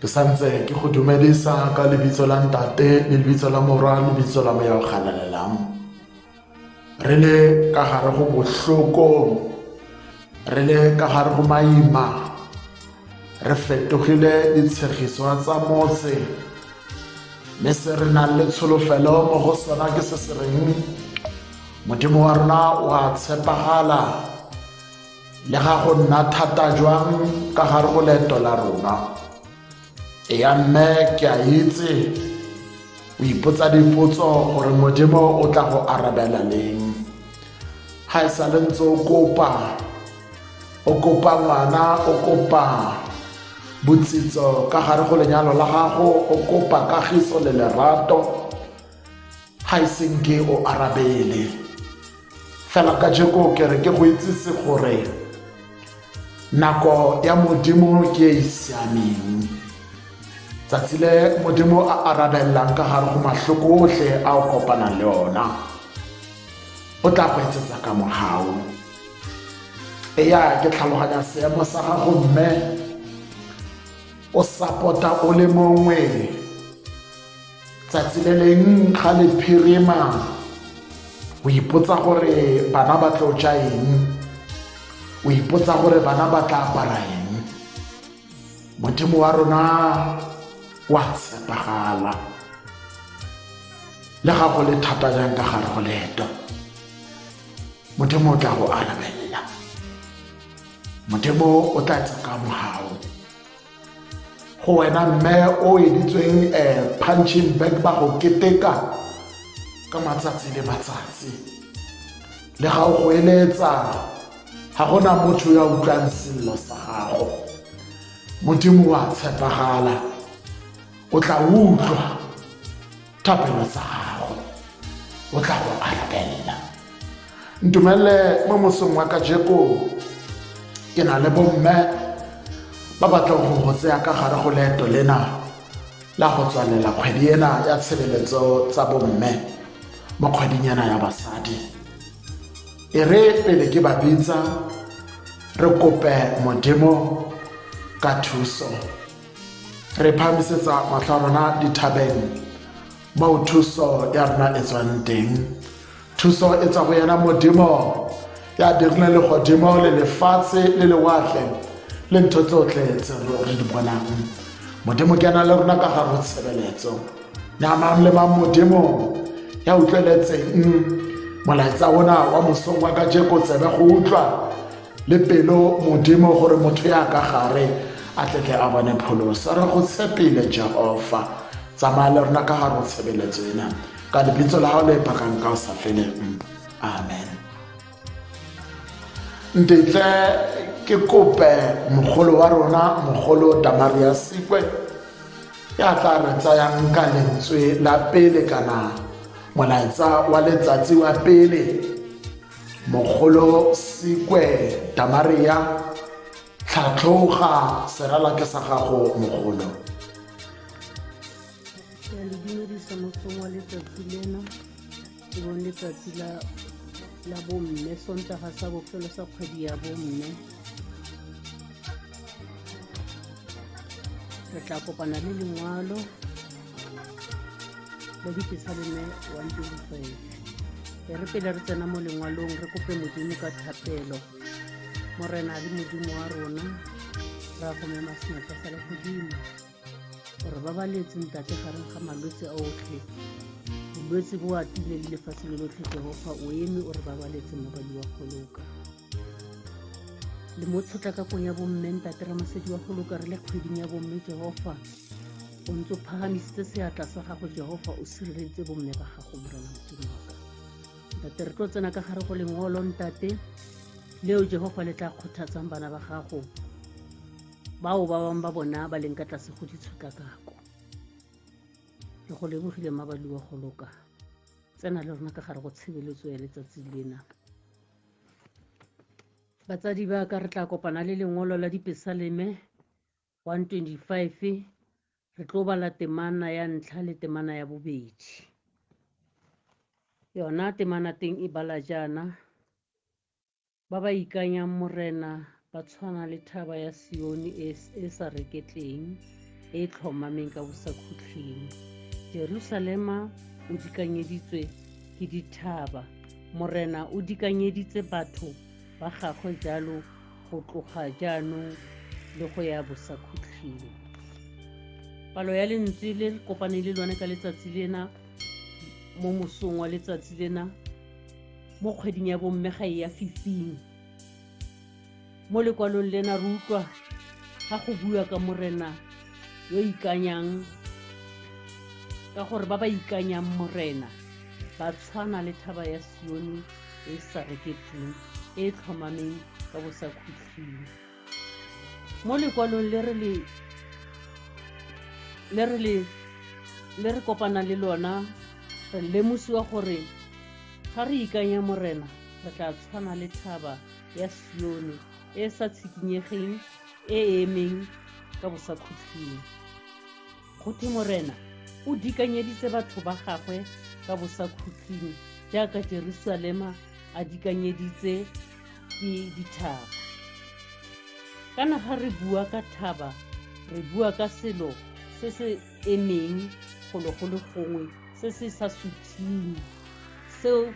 ke santse ke go dumedisa ka lebitso la ntate le lebitso la morwa le lebitso la moya o galalelang re le ka gare go bohloko re le ka gare go maima re fetogile ditshegiswa tsa motse mme se re nang le tsholofelo mo go sona ke se se reng modimo wa rona o a tshepagala Le ga go nna thata jwang ka gare go leeto la rona, e ya mme ke a itse o ipotsa dipotso gore modimo o tla go arabela leng ga e sale ntse o kopa o kopa ngwana o kopa botsitso ka gare go lenyalo la gago o kopa kagiso le lerato ga e senke o arabele fela ka jeko ke re ke go itsise gore nako ya modimo ke e e siameng tsatsi le modimo a arabelelang ka gare go mahloko otlhe a o kopanang le ona o tla go etsetsa ka mogao eya ke tlhaloganya seemo sa gago mme o sapota o le mongwe Tsatsi le leng ga le phirima o ipotsa gore bana ba tlo ja eng o ipotsa gore bana ba tla apara eng modimo wa rona wa tshepagala le ga go le thata jang ka gare go leeto modimo o tla go arabelela modimo o tla tsaka mogao go wena mme o editsweng um eh, punching back ba go keteka ka matsatsi le matsatsi le ga o go eletsa ga gona motho ya utlwang sello sa gago modimo wa tshepagala o tla utlwa thapelo tsa gago o tla go arabella ntumelele mo mosong wa kajeko ke na le bomme ba batla go go tseya ka gare go leeto lena la go tswalela kgwedi ena ya tshebeletso tsa bomme mo kgweding ena ya basadi e re pele ke ba bitsa re kope modimo ka thuso re phamisetsa matlho a rona dithabeng moo thuso ya rona e tswang teng thuso e tswa go yena modimo ya dirile legodimo le lefatshe le lewatle le ntho tsotlhe tse re di bonang modimo ke yana le rona ka ga go tshebeletso na mang le mang modimo ya utlweletseng molaetsa ona wa mosong wa ka jeko tsebe go utlwa le pelo modimo gore motho ya ka gare a tletle a bone pholosa re go tshepile jehofa tsamaya le rona ka gare o tshebeletso ena ka lebitso la gago le pakang ka o sa feleng amen ntetle ke kope mogolo wa rona mogolo damaria sekwe ya tla re tsayang ka lentswe la pele kana molaetsa wa letsatsi wa pele mogolo sekwe tamaria tlhatlhoga seralake sa gago mogolo ke le dumedisa mosong wa letsatsi lena ke bone letsatsi la la bomme sontaga sa bofelo sa kgwedi ya bomme re tla kopana le lengwalo modikisa le ne wa ntulotsweng e re pele re tsena mo lengwalong re kope modimo ka thapelo morena le modimo wa rona ra go mema senatla sa le godimo gore ba ba letseng tate gareng ga malwetse a otlhe bolwetse bo atile le lefatshe le lotlhe jehofa o eme o re babaletse mabadi wa goloka le mo tshotla ka kong ya bomme ntate ramasedi wa go loka re le kgweding ya bomme jehofa o ntse o phagamisitse seatla sa gago jehofa o sireleditse bomme ba gago morena modimo waka ntate re tlo tsena ka gare go lengolo ntate leo jehofa le tla kgothatsang bana ba gago bao ba bangwe ba bona ba leng ka tlase go ditshotlakako re go lebogile mabaliwa go loka tsena le rona ka gare go tshebeletso ya letsatsi lena Batsadi ba ka re tla kopana le lengolo la dipesaleme 125 re tlo bala temana ya ntlha le temana ya bobedi. Yona temana teng e bala jaana, ba ba ikanyang morena ba tshwana le thaba ya sione e, e sa reketleng e e tlhomameng ka bosakhutlhing jerusalema o dikanyeditswe ke dithaba morena o dikanyeditse batho ba gagwe jalo go tloga jaanong le go ya bosakhutlhing palo ya lentswe le kopane le lone ka letsatsi lena mo mosong wa letsatsi lena mo kgweding ya bomme ga e ya fifing mo lekwalong lena re utlwa ga go bua ka morena yo ikanyang ka gore ba ba ikanyang morena ba tshwana le thaba ya sione e sa reketseng e e tlhomameng ka bosakhutlhile mo lekwalong le re le le re le le re kopana le lona re lemosiwa gore ga re ikanya morena re tla tshwana le thaba ya sione e e sa tshikinyegeng e e emeng ka bosakhutlhing kgothe morena o dikanyeditse batho ba gagwe ka bosakhutlhing jaaka jerusalema a dikanyeditse ke dithaba kana ga re bua ka thaba re bua ka selo se se e neng gologolo gongwe se se sa suthiweng seo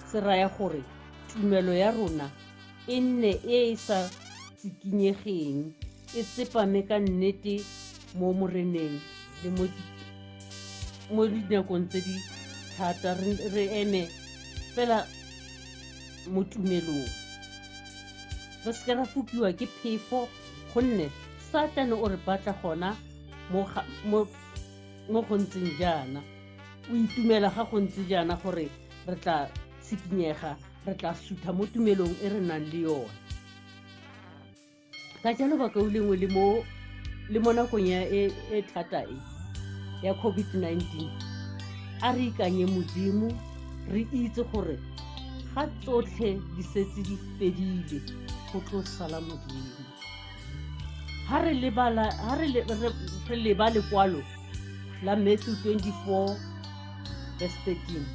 se raya gore tumelo ya rona e nne e e sa tsikinyegeng e tsepame ka nnete mo moreneng le mo dinakong tse di thata re eme fela mo tumelong re seke ra fokiwa ke phefo gonne satane o re batla gona mo go ntseng jaana o itumela ga go ntse jaana gore re tla tshikinyega re tla sutha mo tumelong e re nang le yone ka jalo baka o lengwe le mo le mo nakong ya e, e thata e ya covid-19 a re ikanye modimo re itse gore ga tsotlhe di setse di fedile go tlo sala modimo ha re lebala ha re le re leba lekwalo la Matthew 24 verse 13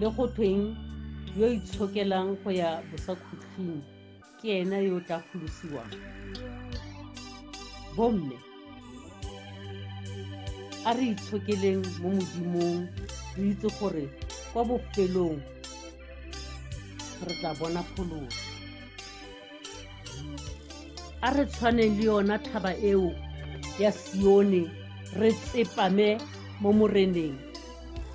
le go tweng yo itshokelang go ya bosakhutlhing ke ena yo tla golosiwang bomme a re itshokeleng mo modimong re itse gore kwa bofelong re tla bona pholoso a re tshwaneng le yona thaba eo ya sione re tsepame mo moreneng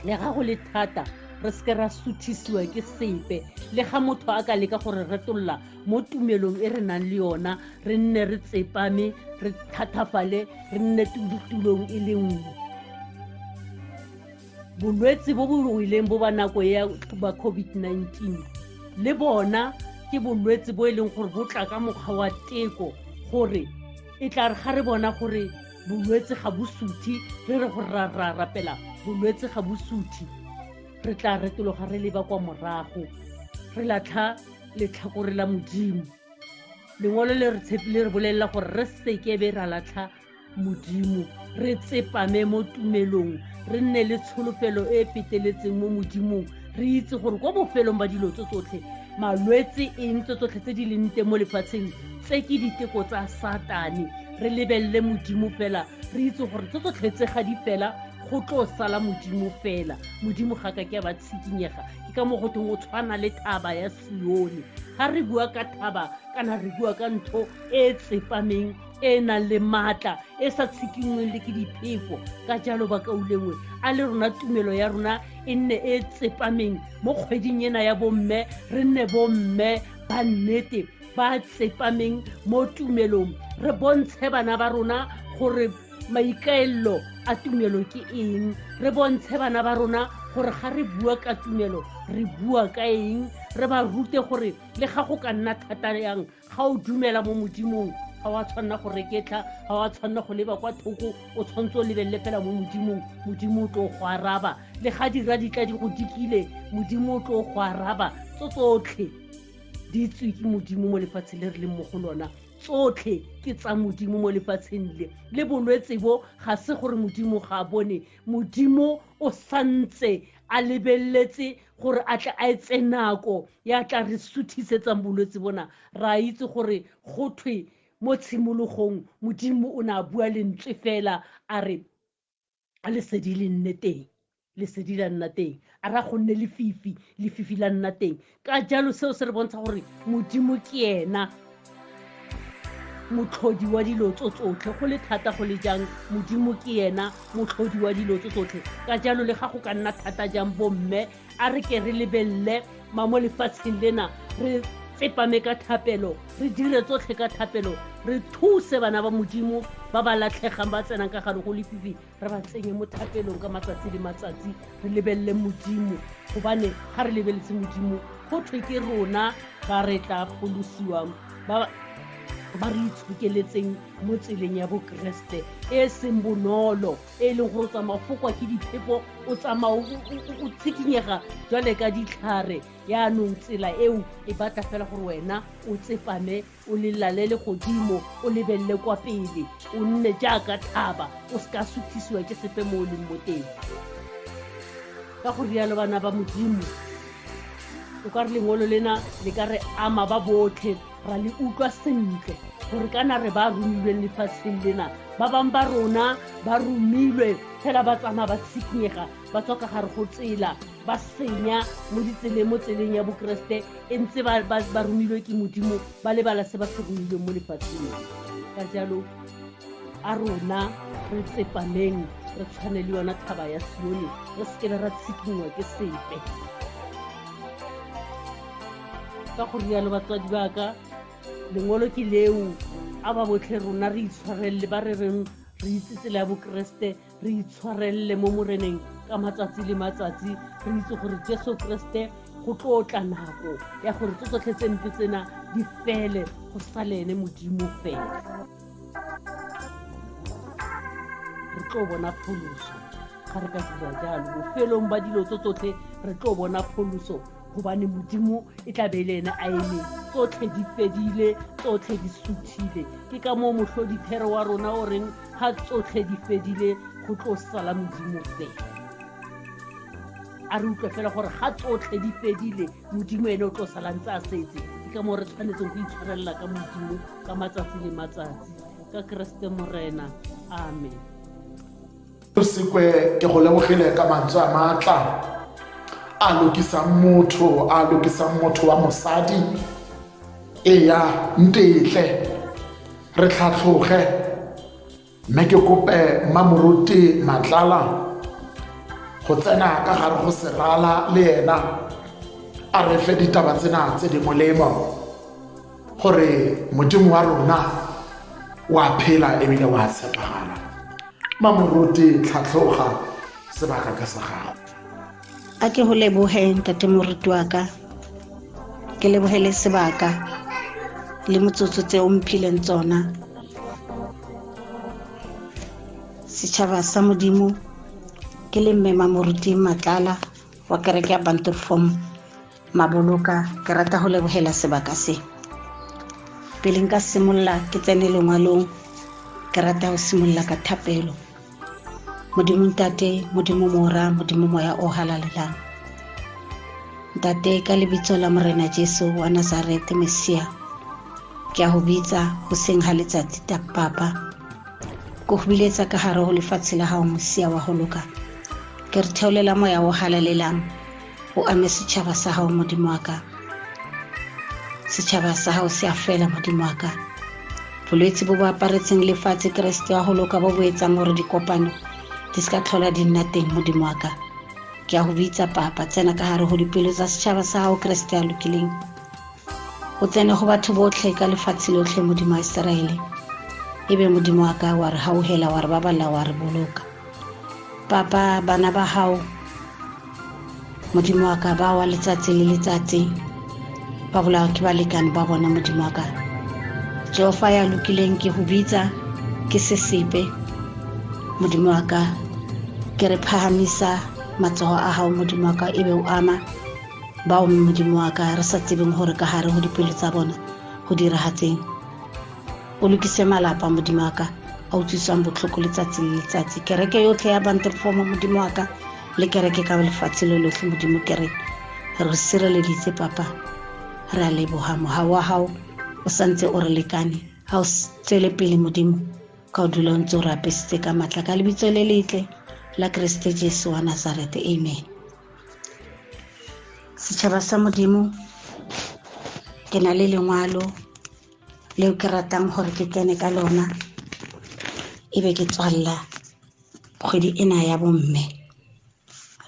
le ga go le thata re seke ra suthisiwa ke sepe le ga motho a ka leka gore retolola mo tumelong e re nang le yona re nne re tsepame re thathafale re nne tulong e le nngwe bolwetse bo bo ruileng bo ba nako ya ba covid-19 le bona ke bolwetse bo e leng gore bo tla ka mokgwa wa teko gore e tla re ga re bona gore bolwetse ga bo suthi re re gore ra ra rapela bolwetse ga bo suthi re tla retologa re leba kwa morago re latlha letlhakore la modimo lengwalo le re tshepi le re bolelela gore re sekebe ra latlha modimo re tsepame mo tumelong re nne le tsholofelo e e feteletseng mo modimong re itse gore kwa bofelong ba dilo tse tsotlhe malwetse eng tse tsotlhe tse di leng teng mo lefatsheng tse ke diteko tsa satane re lebelele modimo fela re itse gore tse tsotlhe tse ga di fela go tlo sala modimo fela modimo ga ka ke a ba tshikinyega ke ka mo go teng o tshwana le thaba ya sione ga re bua ka thaba kana re bua ka ntho e tsepameng e e nang le maatla e sa tshikingweng le ke diphefo ka jalo bakaulengwe a le rona tumelo ya rona e nne e tsepameng mo kgweding ena ya bomme re nne bomme ba nnete ba tsepameng mo tumelong re bontshe bana ba rona gore maikaelelo a tumelo ke eng re bontshe bana ba rona gore ga re bua ka tumelo re bua ka eng re ba rute gore le ga go ka nna thata yang ga o dumela mo modimong ga wa tshwanela go reketla ga wa tshwanela go leba kwa thoko o tshwanetse o lebelele fela mo modimong modimo o tlo go araba le ga dira ditla di go dikile modimo o tlo go araba tso tsotlhe di tswe ke modimo mo lefatshe le re leng mo go lona tsotlhe ke tsa modimo mo lefatsheng le le bolwetse bo ga se gore modimo ga a bone modimo o santse a lebeletse gore a tle a etse nako ya tla re suthisetsang bolwetse bona ra itse gore go thwe mo tshimologong modimo o ne a bua lentswe fela a re a lesedi le nne teng lesedi la nna teng a ra go nne lefifi lefifi la nna teng ka jalo seo se re bontsha gore modimo ke ena motlhodi wa dilo tso tsotlhe go le thata go le jang modimo ke ena motlhodi wa dilo tso tsotlhe ka jalo le ga go ka nna thata jang bomme a re ke re lebelele ma mo lefatsheng lena re tsepame ka thapelo re dire tsotlhe ka thapelo re thuse bana ba modimo ba ba latlhegang ba tsenang ka gare go lefifi re ba tsenye mo thapelong ka matsatsi le matsatsi re lebelele modimo gobane ga re lebeletse modimo go thwe ke rona ba re tla golosiwang ba ba re itshokeletseng mo tseleng ya bokeresete e e seng bonolo e e leng gore o tsamaya fokwa ke diphepo o tsamaya o tshikinyega jwale ka ditlhare yaanong tsela eo e batla fela gore wena o tsepame o le lalele godimo o lebelele kwa pele o nne jaaka thaba o se ka suthisiwa ke sepe mo o leng mo teng ka go rialo bana ba modimo o ka re lengolo lena le ka re ama ba botlhe ra le utlwa sentle gore kana re ba romilweng lefatsheng lena ba bangwe ba rona ba romilwe fela ba tsamaya ba tshikinyega ba tswa ka gare go tsela ba senya mo ditseleng mo tseleng ya bokeresete e ntse ba romilwe ke modimo ba lebala se ba se romilweng mo lefatsheng ka jalo a rona re tsepameng re tshwane le yona thaba ya sione re sekebe ra tshikinngwa ke sepe ka go rialo batswadi ba ka lengolo ke leo a ba botlhe rona re itshwarelele ba re reng re itse tsela ya bokeresete re itshwarelele mo moreneng ka matsatsi le matsatsi re itse gore jesu keresete go tlo tla nako ya gore tse tsotlhe tse mpe tsena di fele go sale ene modimo fela re tlo bona pholoso ga re ka dira jalo bofelong ba dilo tse tsotlhe re tlo bona pholoso gobane modimo e tla be e le ene a eme tsotlhe di fedile tsotlhe di suthile ke ka moo motlhodithero wa rona o reng ga tsotlhe di fedile go tlo sala modimo fela a re utlwe fela gore ga tsotlhe di fedile modimo ene o tlo sala ntse a setse ke ka moo re tshwanetseng go itshwarelela ka modimo ka matsatsi le matsatsi ka keresete morena amen sekwe ke go lebogile ka mantswe a maatla a lokisang motho a lokisang motho wa mosadi eya ntetle re tlhatlhoge mme ke kope mmamoruti matlala go tsena ka gare go serala le ena a re fe ditaba tsena tse di molemo gore modimo wa rona wa phela ebile wa tshepagala mmamoruti tlhatlhoga sebaka ka sa gago a ke go leboge ntate moruti wa ka ke leboge le sebaka le motsotso tse o mphileng tsona setšhaba sa modimo ke le mmema moruti matlala wa kereke ya banterform maboloka ke rata go lebogela sebaka se pele nka simolola ke tsene lengwalong ke rata go simolola ka thapelo modimo ntate modimo mora modimo moya o halalelang ntate ka lebitso la morena jesu wa nazarete mesia ke a go bitsa go seng ga letsatsi ta papa ko go biletsa ka gare go lefatshe la gago mosia wa go loka ke re theolela moya o halalelang o ame setšhaba sa gago modimo wa ka setšhaba sa gago se a fela modimo wa ka bolwetse bo bo aparetseng lefatshe keresete wa go loka bo bo etsang gore dikopano di se ka tlhola di nna teng modimo wa ka ke ya go bitsa papa tsena ka gare go dipelo tsa setšhaba sa gago keresete ya lokileng o tsene go batho botlhe ka lefatshe lotlhe modimo wa iseraele e be modimo wa ka wa re gaogela wa re baballa wa re boloka papa bana ba gago modimo wa ka ba wa letsatsi le letsatsi ba bolawa ke balekane ba bona modimo wa ka jehofa ya lokileng ke go bitsa ke sesepe modimo wa ka ke re phahamisa matsogo a gago modimo wa ka e be o ama bao modimo wa ka re sa tsebeng gore ka gare go dipelo tsa bona go diragatseng o lokise malapa modimo wa ka a utlwiswang botlhoko letsatsi le letsatsi kereke yotlhe ya bantefomo modimo wa ka le kereke ka lefatshe lo lotlhe modimo kere re sireleditse papa re a leboga moga wa gago o santse o re lekane ga o tswele pele modimo ka o dula o ntse o re apesitse ka maatla ka lebitso le letle la keresete jesu wa nazarete amen setšhaba sa modimo ke na le lengwalo leo ke ratang gore ke tsene ka lona e be ke tswalela kgwedi ena ya bomme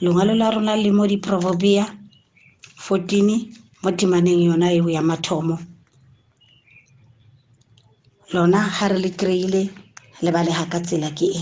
lengwalo la rona le mo diprobobia 14 mo temaneng yona eo ya mathomo lona ga re le kry-ile le bale ga ka tsela ke e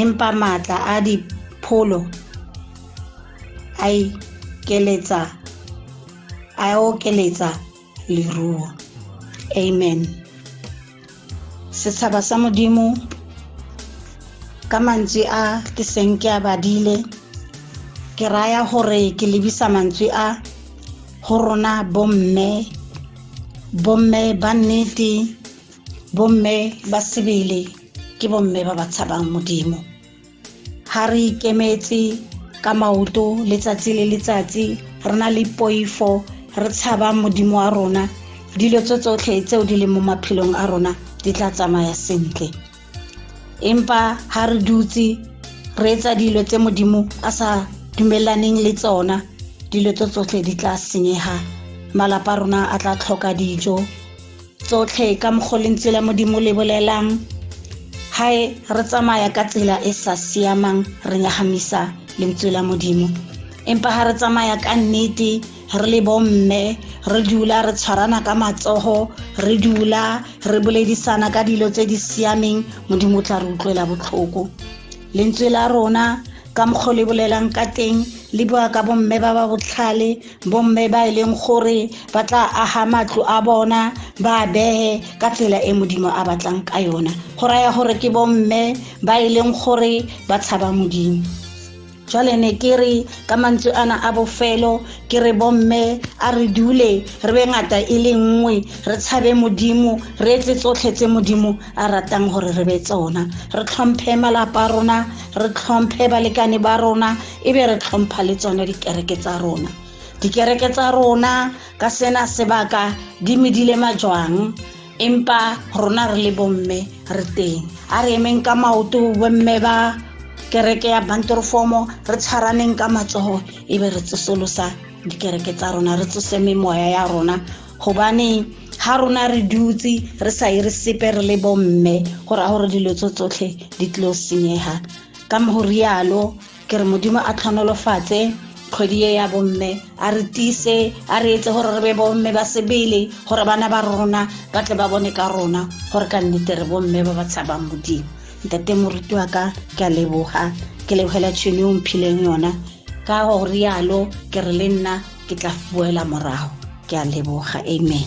empa matla a dipholo a ikeletsa a okeletsa leruo amen setshaba sa modimo ka mantswe a ke seng ke a badile ke raya gore ke lebisa mantswe a go rona bomme bomme ba nnete bomme ba sebele ke bomme ba ba tshabang modimo ga re ikemetse ka maoto letsatsi le letsatsi re na le poifo re tshaba modimo wa rona dilo tse tsotlhe tseo di leng mo maphelong a rona di tla tsamaya sentle empa ga re dutse re etsa dilo tse modimo a sa dumelaneng le tsona dilo tse tsotlhe di tla senyega malapa rona a tla tlhoka dijo tsotlhe ka mokgo lentswe la modimo le bolelang hae re tsamaya ka tsela e sa siamang re nyagamisa lentswe la modimo empa ga re tsamaya ka nnete re le bomme re dula re tshwarana ka matsogo re dula re boledisana ka dilo tse di siameng modimo o tla re utlwela botlhoko lentswe la rona ka mokgwa le bolelang ka teng le bua ka bomme ba ba botlhale bomme ba e leng gore ba tla aga matlo a bona ba a bege ka tsela e modimo a batlang ka yona go raya gore ke bomme ba e leng gore ba tshaba modimo jwale ne ke re ka mantswe ana a bofelo ke re bomme a re dule re be ngata e le nngwe re tshabe modimo re etse tsotlhe tse modimo a ratang gore re be tsona re tlhomphe malapa a rona re tlhomphe balekane ba rona e be re tlhompha le tsone dikereke tsa rona dikereke tsa rona ka sena sebaka di medile majwang empa rona re le bomme re teng a re emeng ka maoto bomme ba kereke ya bantorofomo re tshwaraneng ka matsogo e be re tsosolosa dikereke tsa rona re tsose memoya ya rona gobane ga rona re dutse re sa e re sepe re le bomme go raya gore dilo tso tsotlhe di tlo senyega ka go rialo ke re modimo a tlhonolofatse kgwedi e ya bomme a re tise a re etse gore re be bomme ba sebele gore bana ba rona ba tle ba bone ka rona gore ka nnete re bomme ba ba tshabang modimo ntate moruti wa ka ke a leboga ke lebogela tšhono o mphileng yona ka go rialo ke re le nna ke tla boela morago ke a leboga amen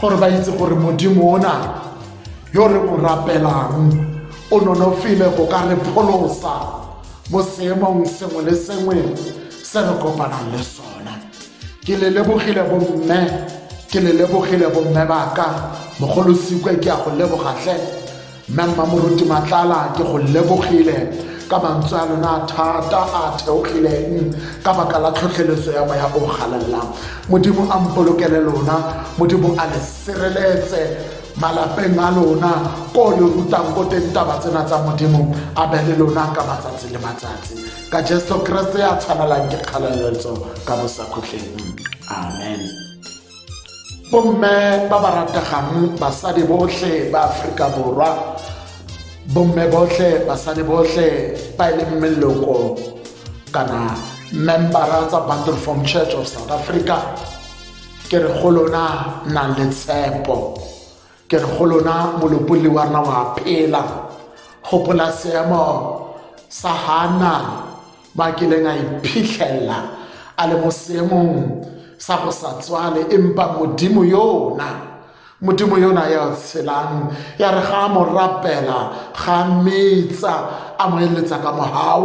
gore ba itse gore modimo ona yo re mo rapelang o nonofile go ka re pholosa mo seemong sengwe le sengwe se re kopanang le sona ke le lebogile bomme ke le lebogile bomme baka mogolosikwe ke ya go lebogatlhe Mme Mmamoruti Matlala ke go lebogile ka mantswe a lona thata a theogileng ka baka la tlhotlheletso ya moya o galalelang modimo a mpolokele lona modimo a le sireletse malapeng a lona ko le rutang ko teng taba tsena tsa modimo a be le lona ka matsatsi le matsatsi ka jesu keresete ya tshwanelang ke kgaleletso ka bosakhutleng amen bomme ba ba rategang basadi botlhe ba aforika borwa bomme botlhe basadi botlhe ba e leng meloko kana membara tsa bundle form church of south africa ke re go lona na le tshepo ke re go lona molopolli wa rona wa phela gopola seemo sa hana ba kileng a iphitlhela a le mo seemong sa go sa tswale empa modimo yona modimo yona ya tshelang ya re ga a mo rapela ga metsa a mo eletsa ka mogau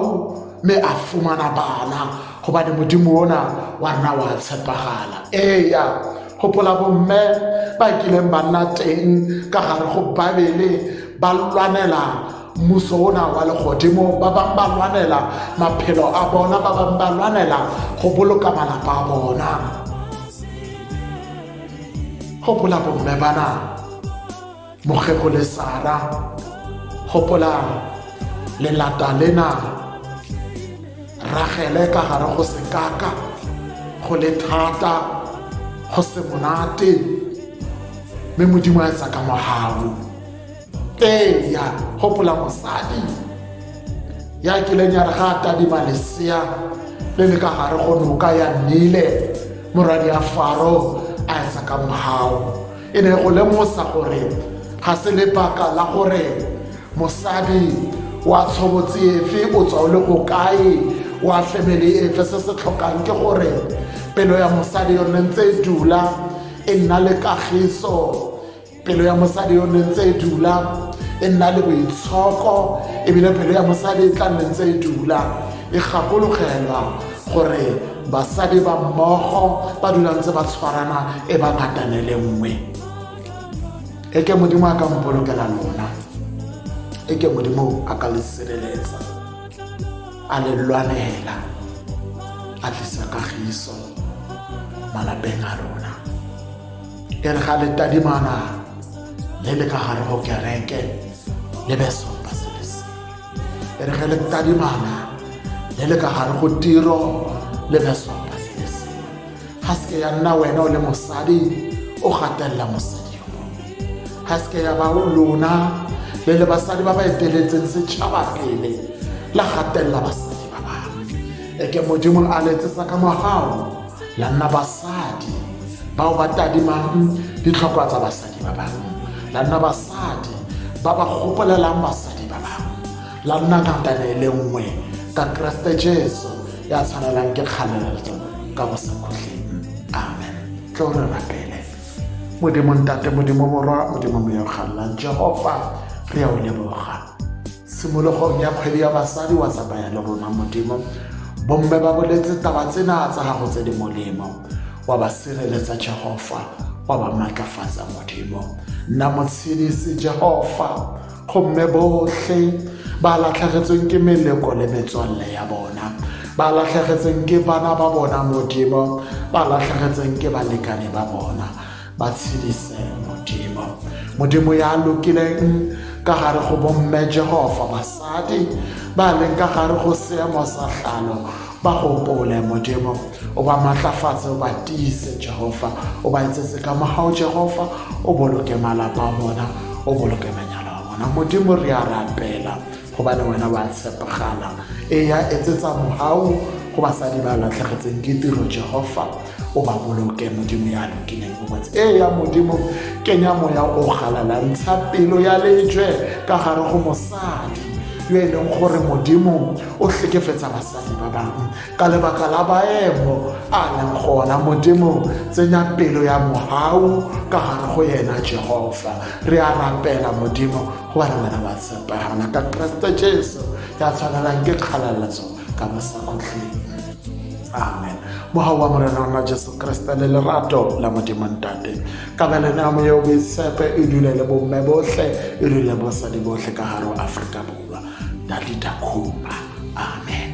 mme a fumana bana gobane modimo ona wa nna wa tshepagala eya gopola bomme ba kileng ba nna teng ka gare go babele ba lwanela mmuso ona wa legodimo ba bangwe ba lwanela maphelo a bona ba bangwe ba lwanela go boloka malapa a bona gopola bomme bana mokgego le sara gopola lelata lena ragele ka gare go sekaka go le thata go se monate mme modimo a etsa ka mogau eya gopola mosadi ya kileng ya re ga a tadima lesea le le ka gare go noka ya nnile moradi ya faro a etsa ka mogao e ne go lemosa gore ga se lebaka la gore mosadi wa tshobotsi efe o tswa o le go kae wa family efe se se tlhokang ke gore pelo ya mosadi yone ntse e dula e nna le kagiso pelo ya mosadi yo ne ntse e dula e nna le boitshoko ebile pelo ya mosadi e tla nne ntse e dula e gakologelwa gore basadi ba mmogo ba dula ntse ba tshwarana e ba ngatane le nngwe e ke modimo a ka mpolokela lona e ke modimo a ka le sireletsa a le lwanela a tlisa kagiso malapeng a lona e re ga letadimana le le ka gare go kereke le be sopa sebese e re ge letadimana le le ka gare go tiro le be sopa sebese ga seke ya nna wena o le mosadi o gatelela mosadi yo mongwe ga seke ya ba o lona le le basadi ba ba eteletseng setšhaba pele la gatelela basadi ba bangwe e ke modimo a letsesa ka mogao la nna basadi bao ba tadimang ditlhokwa tsa basadi ba bangwe la nna basadi ba ba gopolelang basadi ba bangwe la nna ngakane e le nngwe ka keresete jesu ya tshwanelang ke kgaleletso ka bosakhutleng amen tlo re rapele modimo ntate modimo morwa modimo moyogalelang jehofa re ya o leboga tshimologong ya kgwedi ya basadi wa tsamaya le rona modimo bomme ba boletse taba tsena tsa gago tse di molemo wa ba sireletsa jehofa wa ba maatlafatsa modimo nna motshedisi jehofa gomme botlhe ba latlhegetsweng ke meleko le metswalle ya bona ba latlhegetseng ke bana ba bona modimo ba latlhegetseng ke balekane ba bona ba tshedise modimo modimo ya lokileng ka gare go bomme jehova basadi ba leng ka gare go seemo sa tlhalo ba gopole modimo o ba maatlafatse o ba tiise jehova o ba etsetse ka mogao jehova o boloke malapa a bona o boloke manyalo a bona modimo re a rapela gobane wena wa tshepegala e ya etsetsa mogao go basadi ba latlhegetseng ke tiro jehova o ba boloke modimo ya lokileng bobotse ee ya modimo kenya moya o galalantsha pelo ya lejwe ka gare go mosadi yo e leng gore modimo o tlhekefetsa basadi ba bangwe ka lebaka la baemo a leng gona modimo tsenya pelo ya mogau ka gare go yena jehofa re a rapela modimo go ba re wena wa tshepegana ka keresete jesu ya tshwanelang ke kgaleletso ka ba sa kgotleng amen moga wa morena ona jesu kriste le lerato la modimontate kabelene ya moyeo boitshepe e dule le bomme botlhe e dule bosadi botlhe ka gare o aforika borwa dadidakhupa amen